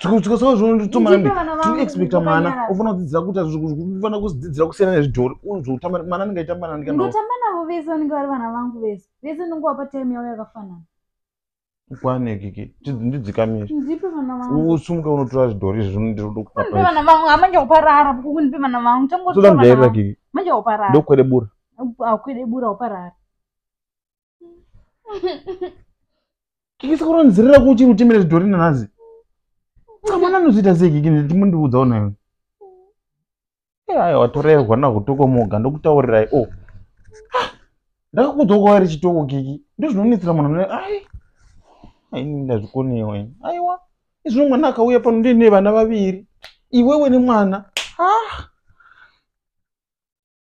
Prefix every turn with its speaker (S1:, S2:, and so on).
S1: tikasaazvinotomanaexpecta mwana ofana kudzidzira kuita zvofana kudzidzira kusiyana nezvidhori unzvotamba mwana anenge aitamba nandikanotamba navo vese vanenge vari vana vangu vese vese ndinonge wapa time yavo yakafanana kwanekiki ndidzikamire usumuke unotora zvidhori izvi zvinondirodokuaana vangu amanje kuparara kukunipe vana vangu tangotoda mujairira kiki manje kuparara ndokwede bura kwede bura uparara kiki sikuronzerera ku uchiri utimire zvidhori nanhazi mwana anozviita sei kiki ndimundiudzawo nayo aya watorerwa nakutokomoga ndokutaurirai o oh. ah, ndakakuudza kwawairi chitoko kiki ndozvinonetsera munhu ne ai aini ndazvikonewa ini aiwa izvino mwana akauya pano ndine vana vaviri iwewe nemwana ah